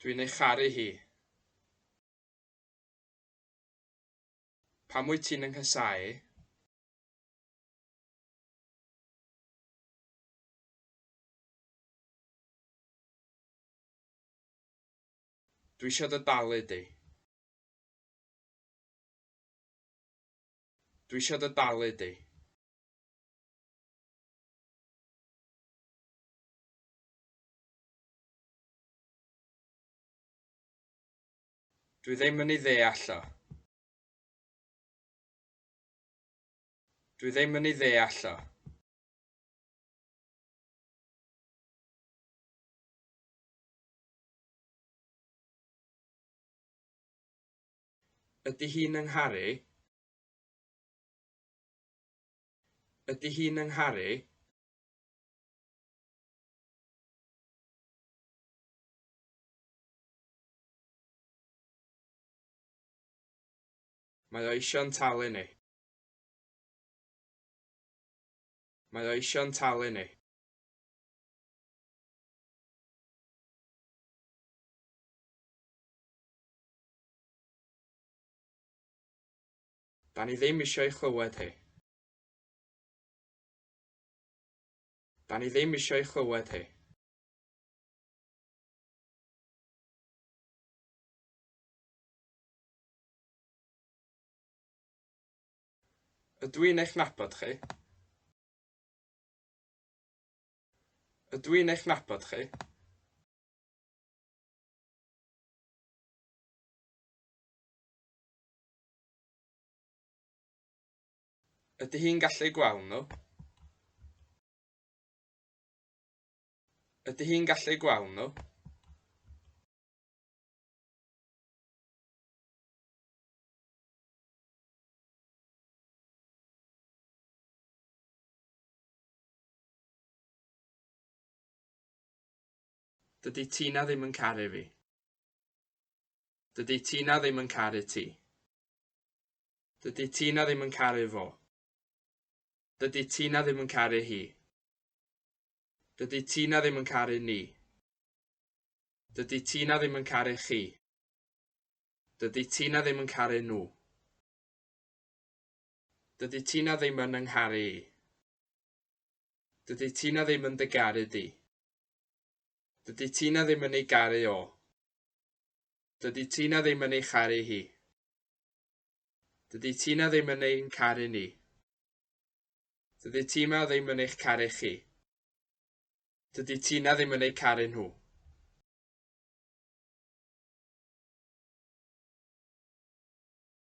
Dwi'n ei charu hi. Pam wyt ti'n 'y nghasáu? Dwi eisiau dy dalu di. Dwi eisiau dy dalu di. Dwi ddim yn ei ddeall o. Dwi ddim yn ei ddeall o. Ydy hi'n yng Ngharu? Ydy hi'n 'y ngharu? Mae o eisiau'n talu ni. Mae o eisiau'n talu ni. Da ni ddim isio ei chlywed hi. Da ni ddim isio ei chlywed hi. Ydw i'n eich nabod chi? Ydw i'n eich nabod chi? Ydy hi'n gallu gweld nhw? Ydy hi'n gallu gweld nhw? Dydy Tina ddim yn caru fi. Dydy Tina ddim yn caru ti. Dydy Tina ddim yn caru fo. Dydy Tina ddim yn caru hi. Dydy Tina ddim yn caru ni. Dydy Tina ddim yn caru chi. Dydy Tina ddim yn caru nhw. Dydy Tina ddim yn yngharu i. Dydy Tina ddim yn dy garu di. Dydy Tina ddim yn ei garu o. Dydy Tina ddim yn ei charu hi. Dydy Tina ddim yn ein caru ni. Dydy Tima ddim yn eich caru chi. Dydy Tina ddim yn ei caru nhw.